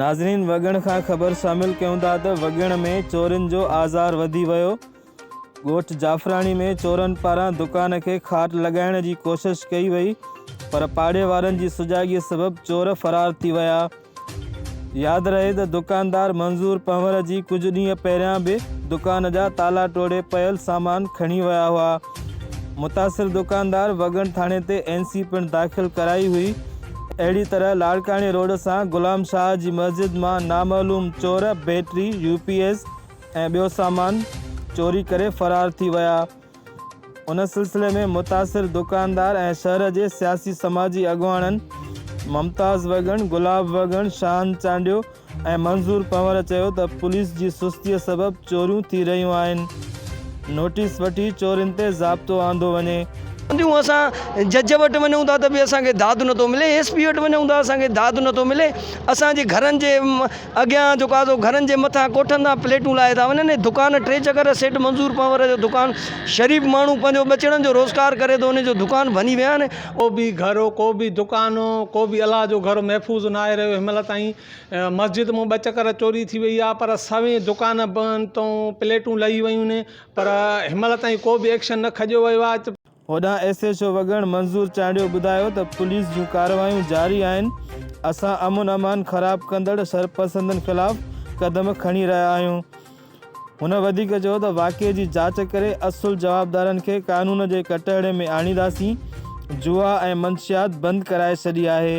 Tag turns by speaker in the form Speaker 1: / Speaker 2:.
Speaker 1: ناظرين وڳڻ کان خبر شامل ڪيون ٿا ته وڳڻ ۾ چورين جو آزار وڌي ويو ڳوٺ جعفراڻي ۾ چورن پاران دڪان کي کاٽ لڳائڻ جي ڪوشش ڪئي وئي پر پاڙي وارن جي سجاڳي سبب چور فرار ٿي ويا ياد رهي ته دڪاندار منظور پنور جي ڪجهه ڏينهن پهريان به دڪان جا تالا ٽوڙي پيل سامان کڻي ويا هئا متاثر دڪاندار وڳڻ ٿاڻي تي اين سي پڻ داخل ڪرائي هئي اهڙي طرح لاڙڪاڻي روڊ سان غلام شاهه جي مسجد مان نامعلوم چور بيٽري يو پي ايس ۽ ٻيو سامان چوري ڪري فرار ٿي ويا ان سلسلي ۾ متاثر دڪاندار ۽ شهر جي سياسي سماجي اڳواڻن ممتاز وڳڻ گلاب وڳڻ شاهن چانڊيو ايم منظور پنور چيو ته پوليس جي سستي سبب چوريون ٿي رهيون آهن، نوٽيس وٺي چورين تي ضابطو آندو وڃي. چونديون اسان
Speaker 2: جج وٽ وڃون ٿا ته به اسان کي داد نه ٿو ملي، ايس پي وٽ وڃون ٿا اسان کي داد نه ٿو ملي، اسان جي گهرن جي اڳيان جيڪو آهي سو گهرن جي مٿان ڪوٺن تان پليٽون لاهي ٿا وڃن ۽ دڪان ٽي چڪر سيٺ منظور پنور جو دڪان شريف ماڻهو پنهنجو ٻچڙن جو روزگار ڪري ٿو ان جو دڪان ڀڃي ويا آهن. ڪو به گهر ڪو
Speaker 3: به دڪان ڪو به الله جو گهر محفوظ ناهي رهيو هن مهل تائين مسجد مون ٻه چڪر چوري ٿي وئي آهي پر سوين دڪان بند تون پليٽون لهي ويون آهن پر هن مهل تائين ڪو به ايڪشن نه کڄيو ويو آهي هوڏانهن S H
Speaker 1: O Wagan Manzoor Chandio ٻڌايو ته پوليس جون ڪارروايون جاري آهن اسان امن امان خراب ڪندڙ شرپسندن خلاف قدم کڻي رهيا آهيون هن وڌيڪ چيو ته واقعي جي جاچ ڪري اصل جوابدارن کي قانون جي ڪٽهڙي ۾ آڻينداسين، جوا ۽ منشيات بند ڪرائي ڇڏي آهي.